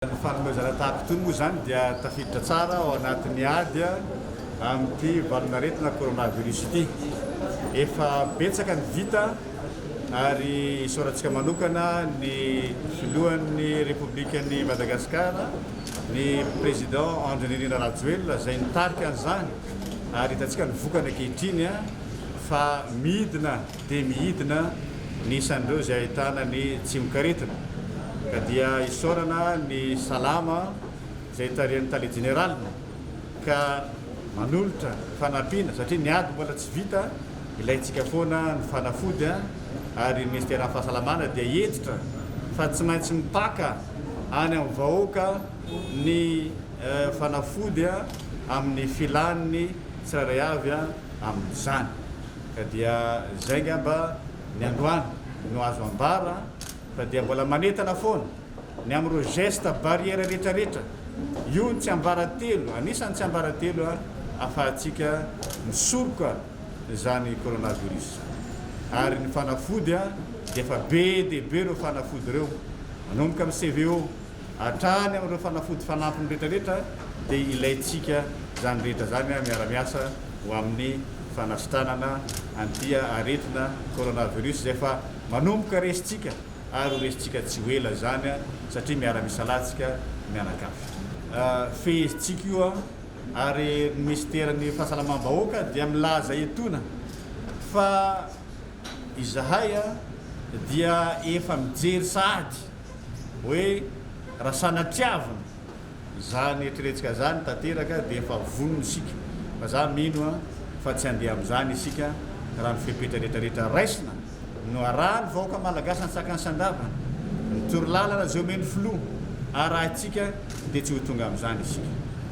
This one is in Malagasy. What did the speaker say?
Ny fanomezana tahaka itony moa izany dia tafiditra tsara ao anatin'ny ady amin'ity valanaretina coronavirus ity. Efa betsaka ny vita ary isaorantsika manokana ny Filohan'ny Repoblikan'i Madagasikara, ny Président Andry Nirina Rajoelina izay nitarika an'izany ary hitantsika ny vokany ankehitriny fa midina. dia mihidina ny isan'ireo izay ahitana ny tsimokaretina ka dia isaorana ny Salama izay tarihan'ny Tale Jeneraliny ka manolotra fanampiana satria ny ady mbola tsy vita, ilaintsika foana ny fanafody ary ny Minisiteran'ny Fahasalamana dia hentitra fa tsy maintsy mipaka any amin'ny vahoaka ny fanafody amin'ny filàny tsirairay avy amin'izany. Ka dia izay ngamba ny androany no azo ambara fa dia mbola manentana foana ny amin'ireo gestes barrières retraretra, io ny tsiambaratelo, anisan'ny tsiambaratelo ahafahantsika misoroka izany coronavirus. Ary ny fanafody dia efa be dia be ireo fanafody ireo, manomboka amin'ny CVO, Hatrany amin'ireo fanafody fanampiny rehetra rehetra dia ilaintsika izany rehetra izany miara-miasa ho amin'ny fanasitranana an'ity aretina coronavirus izay efa manomboka resintsika ary ho resintsika tsy ho ela izany satria miara-misalatsika mianakavy. Fehezintsika io ary ny minisiteran'ny fahasalamam-bahoaka dia milaza etona fa izahay dia efa mijery sahady. hoe raha sanatiavina izany eritreretintsika izany tanteraka dia efa vonona isika fa za mino a fa tsy handeha amin'izany isika raha ny fepetra rehetra rehetra raisina no arahan'ny vahoaka malagasy antsakany sy andavany ny torolalana izay omen'ny filoha arahintsika dia tsy ho tonga amin'izany isika.